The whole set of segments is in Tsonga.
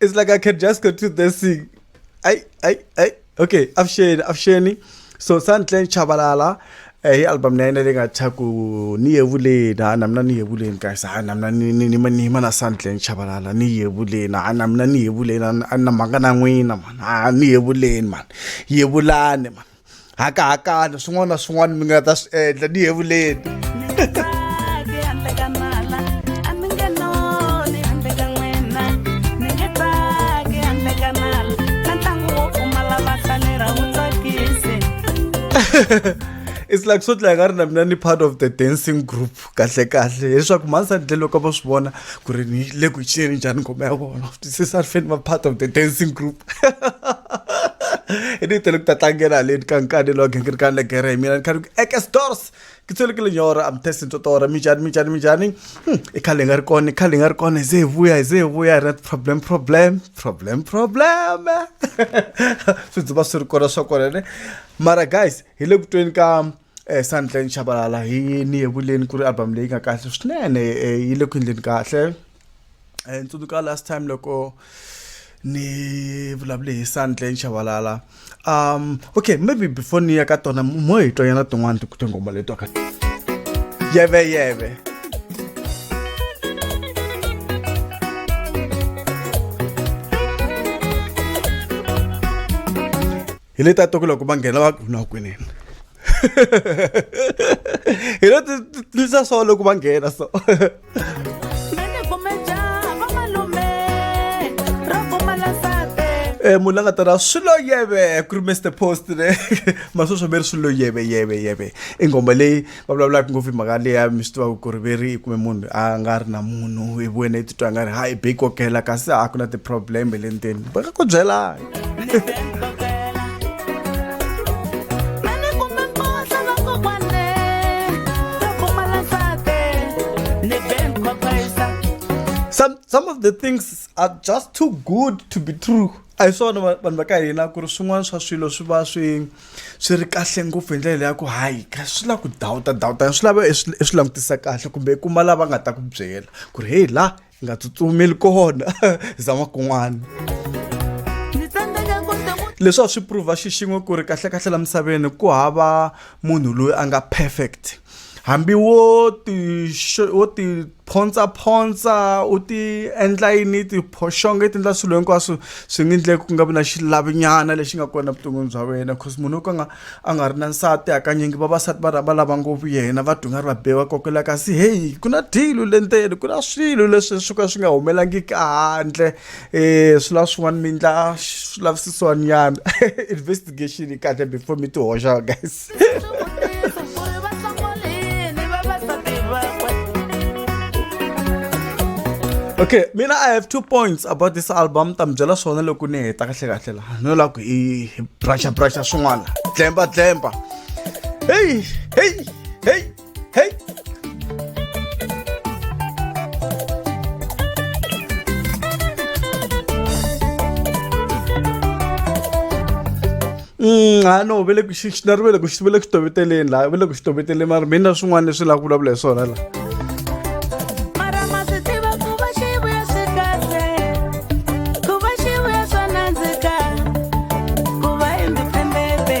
It's like I can just continue dancing. I, I, I. Okay, avuxeni, avuxeni. So Sandlen Chabalala, eh, hi album na yena leyi nga tshwa ku ni yevuleni ha na mina ni yevuleni guys ha na mina ni ni ni ma- ni yima na Sandlen Chabalala ni yevuleni ha na mina ni yevuleni a ni- a ni na mhaka na n'wina man ha ni yevuleni man yevulani man hakahakana swin'wana na swin'wana mi nga ta swi endla ni yevuleni it's like swo dlaya nga ri na mina ni part of the dancing group kahlekahle hileswaku mhani sandle loko a vo swi vona ku ri ni le ku cineni njhani ngoma ya vona twisisa ri fane va part of the dancing group i ni tele ku ta tlangela haleni ka nkani lowa gingirikani le gere hi mina ni khani ku eke stores ke tsolekile nyora am testing totora minjhani minjhani minjhani hmm, i khale hi nga ri kona i khale hi nga ri kona hi ze hi vuya hi ze hi vuya hi ri na ti-problem problem problem problem swi dzuva swi ri kona swa kona ne mara guys hi le ku tweni ka Eh, Santleng Chabalala hi ni yevuleni ku ri album leyi nga kahle swinene eh, yi le ku endleni kahle eh, tsundzuka last time loko ni vulavule hi Santleng Chabalala um okay maybe before ni ya ka tona mo hi tonyana tin'wana tinghoma leto ka yeve yeve hi leti a to ku loko va nghena va no kunene hi leti tisa so loko va nghena so Eh, munhu la nga ta ra swi lo yeve ku ri mr post ne masweswi mi ri swi lo yeve yeve yeve i nghoma leyi va vulavulaka ngopfu hi mhaka leya mi swi tivaka ku ri ve ri kumbe munhu a nga ri na munhu hi wena i titwa nga ri ha i be kokela kasi a ku na ti-problem le ndzeni va nga ku byelanga some some of the things are just too good to be true a hi swona vanhu va ka hina ku ri swin'wana swa swilo swi va swi swi ri kahle ngopfu hi ndlela leyi ya ku hayi swi lava ku dawuta dawuta swi lava i swi i swi langutisa kahle kumbe i kuma lava nga ta ku byela ku ri heyi laha hi nga tsutsumeli kona zama kun'wana leswi a swi prove xixin'we ku ri kahlekahle la misaveni ku hava munhu loyi a nga perfect. hambi wo ti wo ti phontsaphontsa u ti endla yini tiphoxonga i ti endla swilo hinkwaswo swi nga endleki ku nga vi na xilavinyana lexi nga kona evuton'wini bya wena cause munhu wo ka nga a nga ri na nsati hakanyingi vavasati va va lava ngopfu yena va duma ri va be va kokela kasi heyi ku na dilo le ndzeni ku na swilo leswi swi ka swi nga humelangiki handle um swi lava swin'wana mi endla swi lavisisiwanyana investigation kahle before mi ti hoxa guys okay mina i have two points about this album ta mi byela swona loko ni heta kahle kahle laha no lava ku i brusha brusha swin'wana tlemba tlemba heyi heyi heyi Hey! Mm, ha no ve le ku xi xinari ve le ku xi ve le ku toveteleni laha ve le ku xi toveteleni mara mi na swin'wana leswi lava ku vulavula hi swona laha mara ma swi tiva ku va xi vuya swi kahle ku va xi vuya swa nandzika ku va independente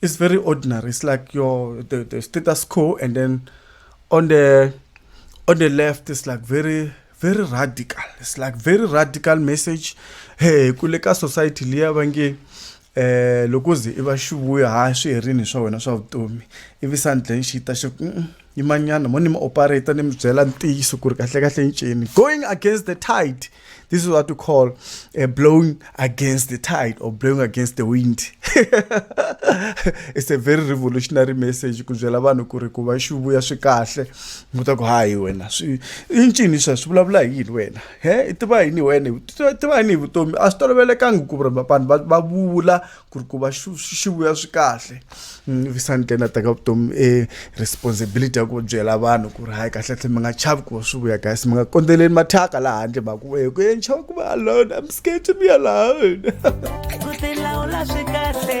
it's very ordinary. It's like your the, the status quo, and then on the on the left, it's like very very radical. It's like very radical message. Hey, kuleka society liya bangi eh loko ze i va xi vuya ha swi herini swa wena swa vutomi ivi sandleni xi ta xi yimanyana mo ni mi operate ni mi byela ntiyiso ku ri kahlekahle ncini going against the tide This is what we call uh, blowing against the tide or blowing against the wind. it's a very revolutionary message ku byela vanhu ku ri ku va xi vuya swi kahle mu ta ku hayi wena swi i ncini swa swi vulavula hi yini wena he i tiva yini wena tiva yini hi vutomi a swi tolovelekanga ku ri vanhu va vula ku ri ku va swi vuya swi kahle mm, visante na teka vutomi e responsibility ya ku byela vanhu ku ri hayi kahlekahle mi nga chavi ku va swi vuya guys mi nga kondzeleli mathyaka laha handle mhaka ku eku ye nchava ku va alone am scared to be alone ku tilawula swi kahle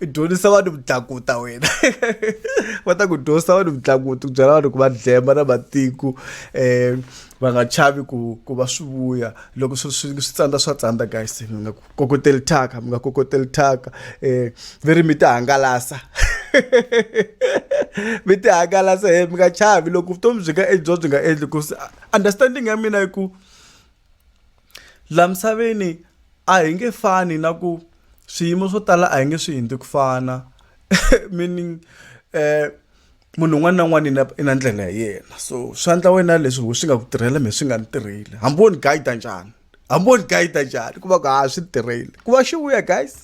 dyondzisa vanhu vudlakuta wena va ta ku dyondzisa vanhu vudlakuta ku byela vanhu ku va dlemba na matiko um va nga chavi ku ku va swi vuya loko swi swi swi tsandza swa tsandza guys mi nga kokoteli thyaka mi nga kokoteli thyaka um mi ri mi ti hangalasa mi ti hangalasa he mi nga chavi loko vutomi byi nga endliwa byi nga endli ku understanding ya mina yi ku laha misaveni a hi nge fani na ku swiyimo swo tala a hi nge swi hundzi ku fana meaning munhu un'wana na un'wana i na i na ndlela ya yena so swa endla wena leswi ho swi nga ku tirhela mehe swi nga ni tirheli hambi wo ni guide njhani hambi wo ni guide njhani ku va ku ha swi tirheli ku va xi vuya guys.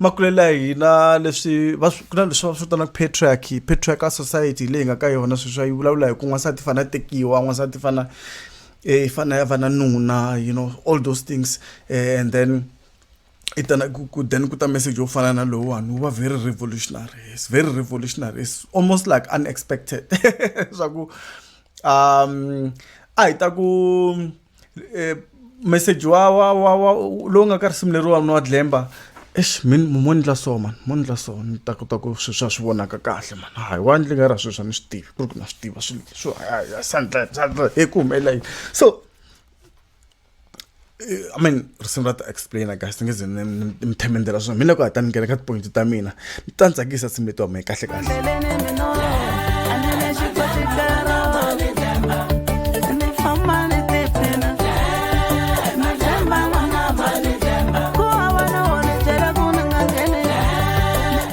makulelo ya hina leswi va ku na leswi va swi vitanaka patriarchy patriarchal society leyi nga ka yona sweswi yi vulavula hi ku n'wansati fana tekiwa n'wansati fana eh, i fana ya va na nuna you know all those things eh, and then i tana ku then ku ta message yo fana na lowuwani wu va very revolutionary it's very revolutionary it's almost like unexpected swa ku um a hi ta ku eh, message wa wa wa wa lowu nga ka risimu leriwa mna wa dlemba eish min mo ndla so man mo ndla so ni ta kota ku swi swa swi vonaka kahle man hayi wa ndli nga ra swi swa ni swi tivi ku ri ku na swi tiva swi swo sandla sandla hi ku humelela yini so eh, i mean risimu ra ta explainer guys ni nge ze mi themendela swona mi le ku hatani nghena ka tipoyinti ta mina ni ta ni tsakisa simu leti wamee kahle kahle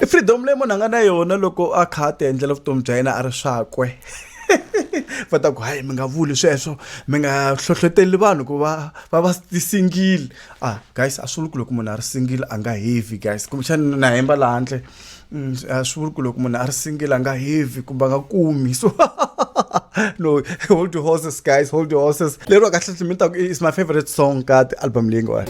freedom leyi munhu a nga na yona loko a kha a ti endlela vutomi bya yena a ri swakwe va ta ku hayi mi nga vuli sweswo mi nga hlohloteli vanhu ku va va va ti-single ah guys a swi vuli ku loko munhu a ri single a nga heavy guys kumbexani na hemba la handle mm, a swi vuli ku loko munhu a ri single a nga heavy kumbe a nga kumi so no hold your horses guys hold your horses lero kahle mi ta ku is my favorite song ka ti-album leyi nga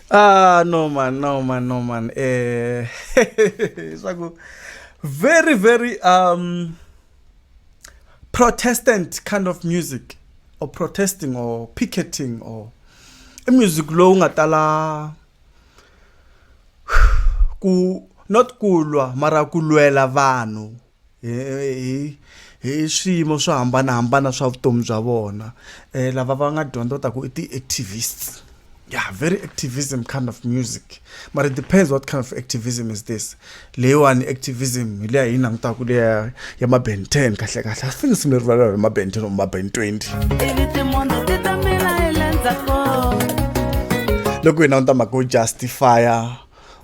ah no man no man no man eh swa ku very very um protestant kind of music or protesting or picketing or i music lowu nga tala ku not ku lwa mara ku lwela vanhu hi hi hi swiyimo swo hambanahambana swa vutomi bya vona um lava va nga dyondza ta ku i ti-activists yeah very activism kind of music but it depends what kind of activism is this leyiwani activism hi leya hi langutaka leya ya maben ten kahle kahle i think simi rivalelo hi maben ten or maben twenty loko hi languta mhaka yo justifya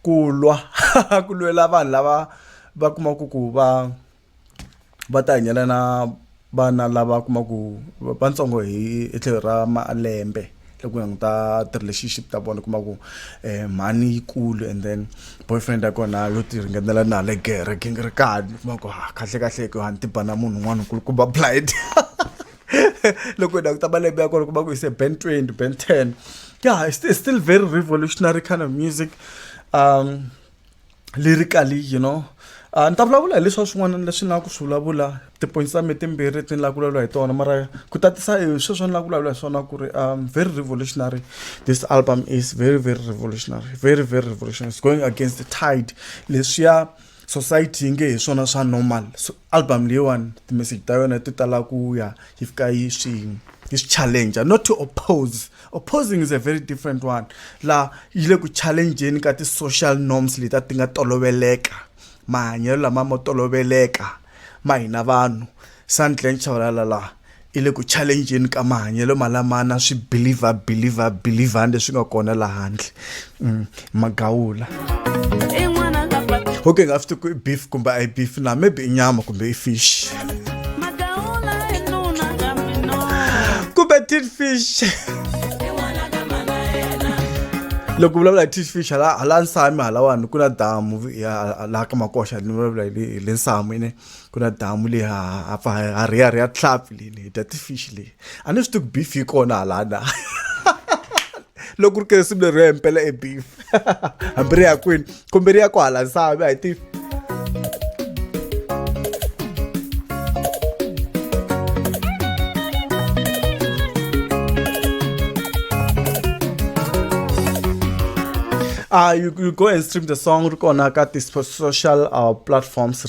ku lwa ku lwela vanhu lava va kumaka ku va va ta hanyela na vana lava kumaka vatsongo hi etlhelo ra malembe loko hi ta ti-relationship ta vona kuma ku um mhani yi kulu and then boyfriend ya kona yo ti ringanela na le gere gingirikani kuma ku ha kahlekahle ku a ni ti ba na munhu un'wana nkulukumba blind. loko hi languta malembe ya kona kuma ku ise band 20 band 10 yeah it's, it's still very revolutionary kind of music um lyrically you know a ah, ni ta vulavula hi leswa swin'wana leswi ni lava ku swi vulavula tipoints ta mi timbirhi ti ni lava ku vulavula hi tona mara ku tatisa hi sweswo ni lava ku vulavula hi swona ku ri um very revolutionary this album is very very revolutionary very very revolutionary it's going against the tide leswiya society yi nge hi swona swa normal so album leyiwani ti-message ta yona ti tala ku ya yi fika yi swi yi swi challenger not to oppose opposing is a very different one la yi le ku challengeni ka ti-social norms leti a ti nga toloveleka mahanyelo lama mo toloveleka ma hina vanhu sandlen chavalala laha i le ku challenjeni ka mahanyelo malamana swi believer believer believer leswi nga kona laha handle mm, magawula okay nga swi tiku i beef kumbe a yi beef na maybe i nyama kumbe i fish kumbe tin fish loko vulavula hi tin fish hala hala nsami halawani ku na damu laha ka makoxa ni vulavula hi le nsami ne ku na damu leyi hapfa ha riya riya tlap lele dya tifish leyi a ni swi tiku beef yi kona halana loko ri kere simu leri yo hempela e beef hambi ri ya kwini kumbe ri ya ku hala nsami a hi tifi Uh, you, you go and stream the song on our social uh, platforms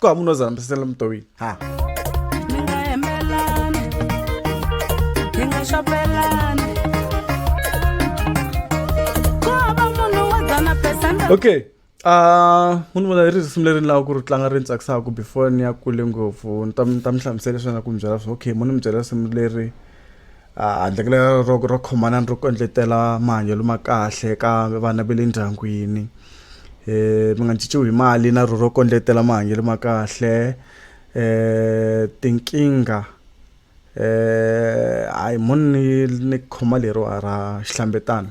ko a munozana mpisela mutowini ha mi nga hembelani hi nga xopelani ku hava munhu wo dzana pesente okay Uh, munhu vona ri risimu leri ni lava ku ri tlanga ri ni tsakisaka before ni ya kule ngopfu ni ta ni ta mi hlamusela leswi na ku mi byela swo okay munhu mi byela risimu leri handle ka lero ro ro khomana ni ro kondletela mahanyelo ma kahle ka vana va le ndyangwini um mi nga cinciwi hi mali na ro ro kondletela mahanyelo ma kahle um tinkingha um hayi mo ni ni khoma leriwa ra xihlambetanani.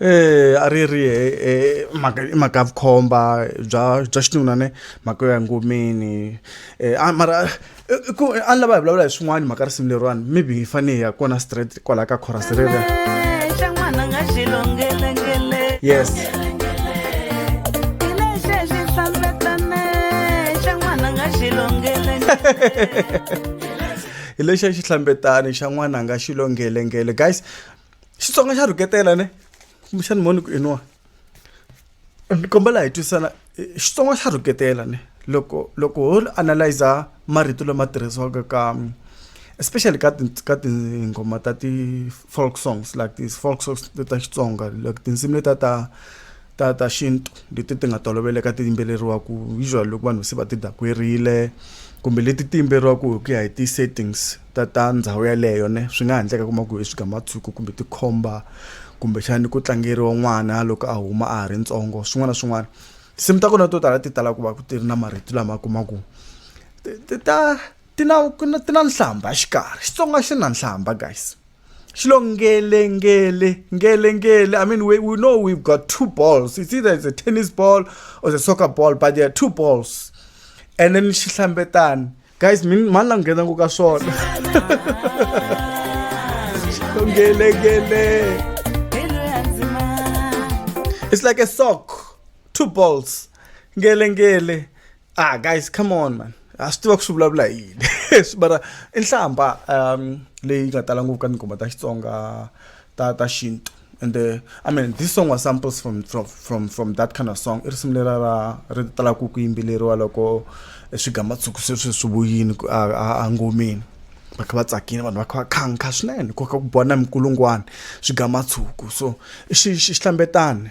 Eya a ri ri mhaka i mhaka ya vukhomba bya bya xinuna ne mhaka yo ya engomeni a mara i ku a ni lava hi vulavula hi swin'wana hi mhaka risimu leriwani maybe hi fane hi ya kona straight kwalaya ka chorus reriya yes hi lexi a xihlambetani xa n'wana a nga xilonghelengele guys xitsonga xa rhuketela ne kumbexani moni ku iniwa ni kombela hi twisana xitsonga xa rhuketela ne loko loko ho analyza marito lama tirhisiwaka ka especially ka ti ka tinghoma ta ti-folk songs like these folk songs ta xitsonga like tinsimu leta ta ta ta xintu leti ti nga toloveleka ti yimbeleriwaku usually loko vanhu se va ti dakwerile kumbe leti ti yimbeleriwaku hi ku ya hi ti-settings ta ta ndhawu yaleyo ne swi nga ha ndleka kuma ku i swigamatsuko kumbe tikhomba kumbexani ku tlangeriwa n'wana loko a huma a ha ri ntsongo swin'wana na swin'wana tinsimu ta kona to tala ti tala ku va ku ti ri na marito lama kuma ku ti ta ti na ti na nhlamba xikarhi xitsonga xi na nhlamba guys xi lo ngele ngele ngele ngele i mean we, we know we've got two balls it's either it's a tennis ball or a soccer ball but there are two balls and then xi hlambetani guys mi mani la nghena ku ka swona ngelengele it's like a sock two balls ngelengele ah guys come on man a swi tiva ku swi vulavula yini bara i nhlamba um leyi nga tala ngopfu ka tinghoma ta xitsonga ta ta xintu and uh, i mean this song was samples from from from, from that kind of song i risimu lera ra ri talaku ku yimbeleriwa loko eh, swigamatsuku sweswi swi vuyini engomeni va kha va tsakile vanhu va kha va khankha swinene koka ku bona minkulungwana swigamatsuku so i xihlambetani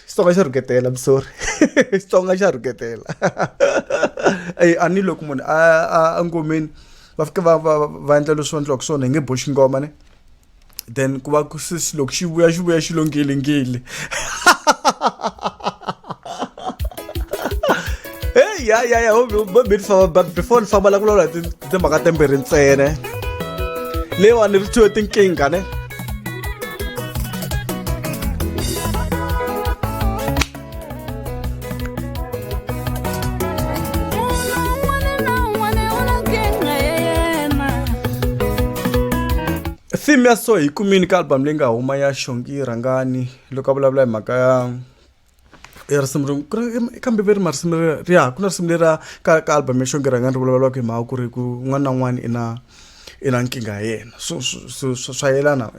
xitsonga xa rhuketela msori xitsonga xa rhuketela eyi a ni loko munhu a ngomeni va fike va va va endla leswi va endliwaka swona hi nge boxi ngoma ne then ku va ku sisi loko xi vuya xi vuya xi lo ngilingili heyi ya ya ya mi ni famba before ni famba la ku lawula timhaka tembirhi ntsene leyiwani ri thyiwe tinkingha ne theme ya so hi kumini ka album leyi nga huma ya xongi rhangani loko a vulavula hi mhaka ya i risimu ri ku ri kambe ve ri marisimu ri ri ya ku na risimu leriya ka ka album ya xonghera nga ri vulavulaka hi mhaka ku ri ku un'wana na un'wana i na i na nkingha ya yena so swi swi swa yelana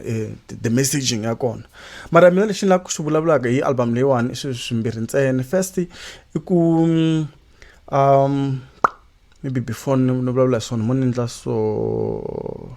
the messaging ya kona mara mina lexi ni lava ku xi vulavulaka hi album leyiwani i swilo swimbirhi ntsena first i ku maybe before ni ni vulavula hi swona mo ni endla so.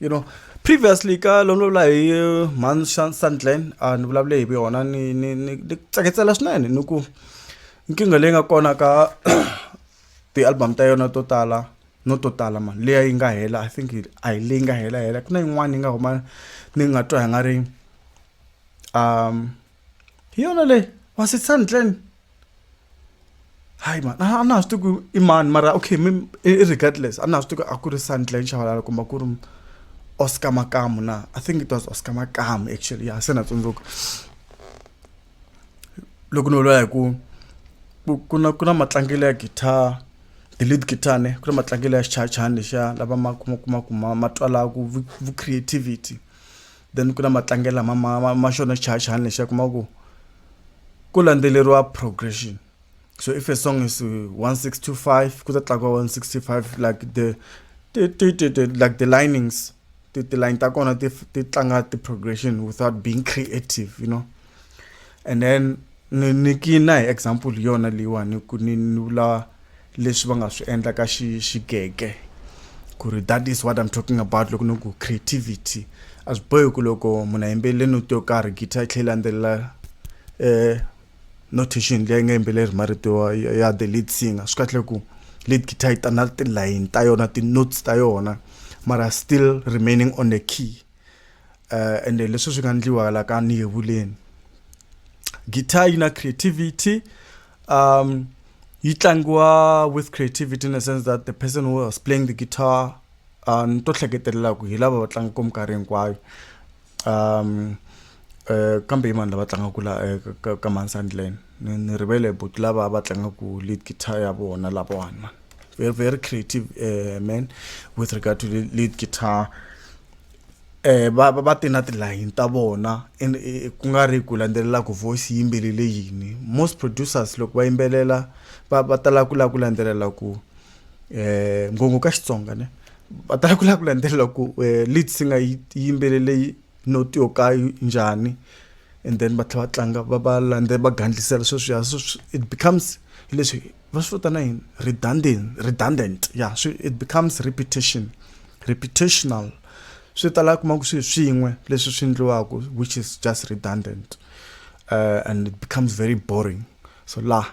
you know previously ka loko ni vulavula hi uh, man sandland a ah, ni vulavule hi yona ni ni ni tsaketsela swinene ni ku nkingha leyi nga kona ka ti-album ta yona to tala no to tala mani leya yi nga hela i think a hi leyi nga hela hela ku na yin'wana yi nga huma ni nga twa hi nga ri um hi yona leyi wa setsani tlen hayi mani a na ha swi tiku i mani mara okay mi regardless a na ha swi tiku a ku ri sandlen xavalala kumbe ku ri oscar makamu na i think it was oscar makamu actually ya se na tsundzuka loko ni vula hi ku ku na ku na matlangelo ya guitar the lead guitar ne ku na matlangelo ya xichayachayani lexiya lava ma kuma kuma ku ma ma twalaku vu creativity then ku na matlangelo lama ma ma ma xona xichayachayani lexi ya kuma ku ku landzeleriwa progression so if a song is 1625 ku ta tlakuka 165 like the ti ti ti ti like the linings ti ti line ta kona ti ti tlanga ti progression without being creative you know and then ni niki na hi example hi yona leyiwani ku ni ni vula leswi va nga swi endla ka xi xigege ku ri that is what i'm talking about loko ni ku creativity a swi bohi ku loko munhu a yimbelele noti yo karhi guitar yi tlhe yi landzelela um notation leyi nga yimbeleri marito ya the lead singer swi kahle ku lead guitar yi ta na tilayini ta yona ti-notes ta yona mara still remaining on the key uh, ende leswi swi nga ndliwa la ka ni yevuleni guitar yi na creativity um yi tlangiwa with creativity in a sense that the person who was playing the guitar uh, ni to hleketelelaku hi lava va tlangaka minkarhi hinkwayo um uh, kambe hi vanhu lava tlangaka la uh, ka, ka mansandland Ni ni rivele but lava va tlangaku lead guitar ya vona lava one man. Very very creative uh, man with regard to the lead guitar. Eh va va ti na tilayini ta vona and eh, ku nga ri ku landzelela ku voice yimbelele yini. Most producers loko va yimbelela va va tala ku la ku landzelela ku eh ngongo ka Xitsonga ne va tala ku la ku landzelela ku eh, lead singer yi yimbelele note yo ka yi njhani and then va tlhela va tlanga va va landze va gandlisela sweswiya so it becomes hi leswi va swi vitana yini redundant redundant ya swi it becomes repetition repetitional swi tala kuma ku swi swin'we leswi swi endliwaka which is just redundant uh, and it becomes very boring so laha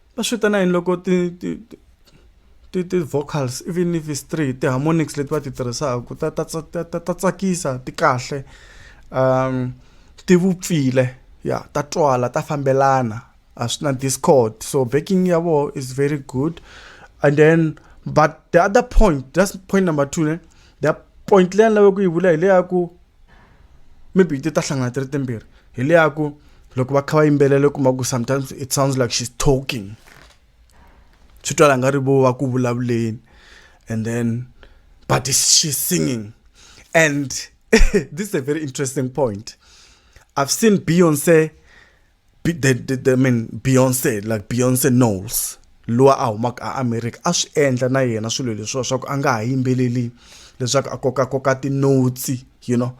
Va swi vitana yini loko ti ti ti ti ti vocals even if it's three ti-harmonics leti va ti tirhisaku ta ta ta ta ta tsakisa ti kahle ti vupfile ya ta twala ta fambelana a swi na discord so backing ya voho is very good and then but the other point just point number two ne the point leyi a ni lave ku yi vula hi le ya ku maybe ti ta hlangana ti ri timbirhi hi le ya ku loko va kha va yimbelela u kuma ku sometimes it sounds like she's talking swi twala nga ri vo va ku vulavuleni and then but she's singing and this is a very interesting point i've seen beyonce Be, they, they, I mean Beyonce like Beyonce Knowles lowa a humaka a America a swi endla na yena swilo leswiwa swa ku a nga ha yimbeleli leswaku a kokakoka tinotsi you know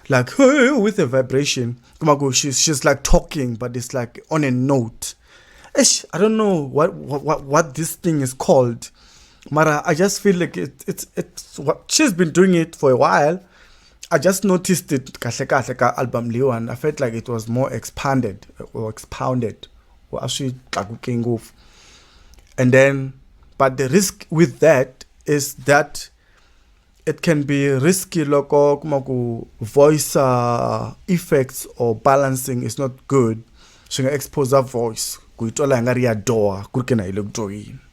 like with a vibration kuma ku she's, she's like talking but it's like on a note Eish, i don't know what, what, what this thing is called mara i just feel like it, it's, it's what she's been doing it for a while I just noticed it kahle kahle ka album leyiwani I felt like it was more expanded or expounded or a swi tlakuke ngopfu and then but the risk with that is that it can be risky loko kuma ku voice uh, effects or balancing is not good swi nga expose voice ku yi twala hi nga ri ya doha ku ri ke na hi le ku dyohini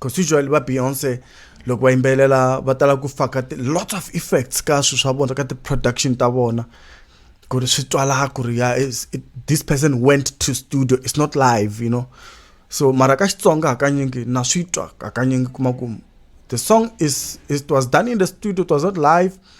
constitutionally va beyonce loko va yimbelela va tala ku faka lots of effects ka swilo swa vona ka ti-production ta vona ku ri swi twala ku ri ya this person went to studio it's not live you know so mara ka xitsonga hakanyingi na swi twa hakanyingi kuma ku the song is it was done in the studio it was not live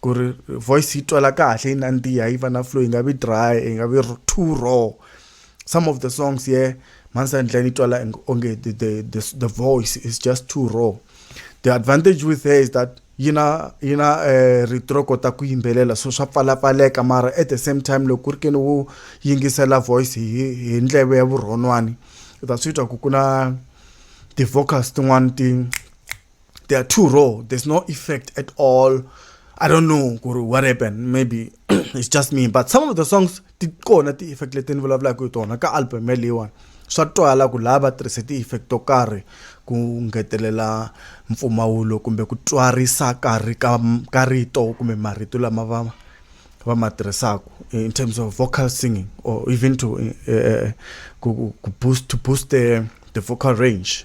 ku ri voice yi twala kahle yi nandziha yi va na flow yi nga vi dry yi nga vi too raw some of the songs ye yeah, mansandleni yi twala onge the, the, the, the voice is just too raw the advantage with her is that yi na yi na um eh, rito ro kota ku yimbelela so swa pfalapfaleka mara at the same time loko ku ri ke ni wo yingisela voice hi hi ndleve ya vurhonwani u ta swi twa ku ku na ti-vocals tin'wani ti they are too raw there's no effect at all i don't know guru what happened maybe it's just me but some of the songs ti kona ti effect leti ni vulavulaka hi tona ka album yaleyiwani swa twala ku lava tirhise ti-effect to karhi ku ngetelela mpfumawulo kumbe ku twarisa karhi ka ka rito kumbe marito lama va va ma tirhisaka in terms of vocal singing or even to uh, ku, ku boost to boost the, the vocal range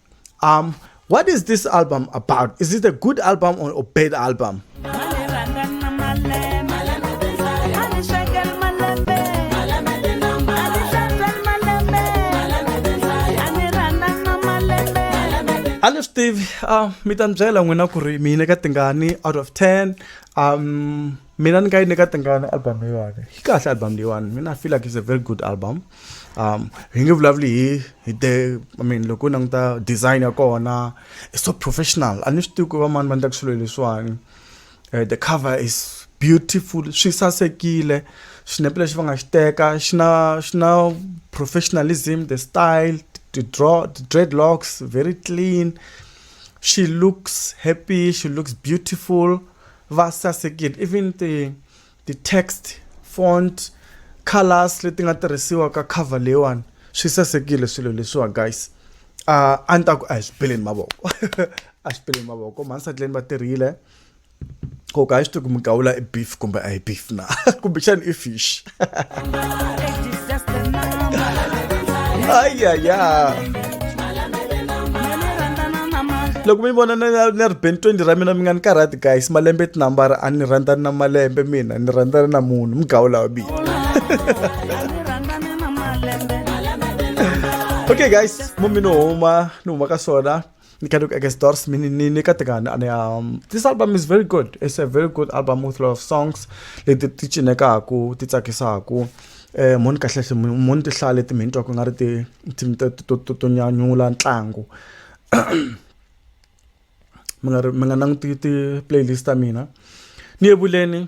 Um, what is this album about? Is it a good album or a bad album? Alif Steve, uh, mi ta byela n'wina ku ri mina ka tingani out of 10 um mina ni nga yi nyika tingani album leyiwani yi kahle album leyiwani mina feel like is a very good album um hi nge vulavuli hi hi te i mean loko u languta design ya kona is so professional a ni swi tivi ku va mani va endlaka swilo leswiwani eh, the cover is beautiful swi sasekile xinepe lexi va nga xi teka xi na xi na professionalism the style the draw the dreadlocks very clean she looks happy she looks beautiful Va sasekile even ti ti text font colours leti nga tirhisiwa ka cover leyiwani swi sasekile swilo leswiwa guys uh, a ni ta ku a hi swi peleni mavoko a swi peleni mavoko mansatuleni va tirhile koka a yi swi tivi ku migawula i beef kumbe a hi beef na kumbexani i fish ay ay ay loko mi vona ni ri ben 20 ra mina mi nga ni karhati guys malembe tinambara a ni rhandzani na malembe mina ni rhandzani na munhu mugawu lawa biya okay guys mumi ni huma ni huma ka swona You can look against Doors Mini Nikatagan and um this album is very good. It's a very good album with a lot of songs. Leti ti cinekaku, ti tsakisaku. Eh moni kahle hle moni ti hlale ti mintwa ku nga ri ti to to nyanyula ntlangu. Mi nga mi nga languti ti playlist ta mina. Ni yevuleni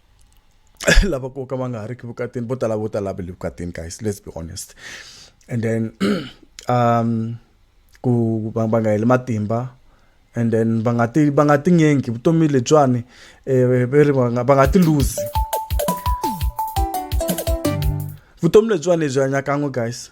lava ku ka va nga ha ri ki vukatini vo tala vo tala va le vukatini guys let's be honest and then um ku va va nga heli matimba and then va nga ti va nga ti nyengi vutomi lebyiwani um eh, va ri va nga va nga ti luzi vutomi lebyiwani lebyi hanya kan'we guys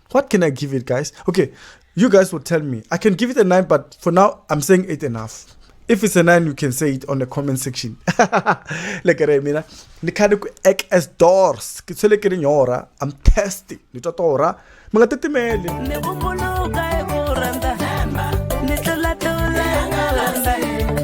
What can I give it, guys? Okay, you guys will tell me. I can give it a 9, but for now, I'm saying 8 and a half. If it's a 9, you can say it on the comment section. Look at it, mina. Ni khale ku ek as doors. Ke tshwele ke ri nyora. I'm thirsty. Ni twa tora. Mi nga titimeli. Ni ku muluka hi ku rhandza. Ni tlula tlula hi ku rhandza.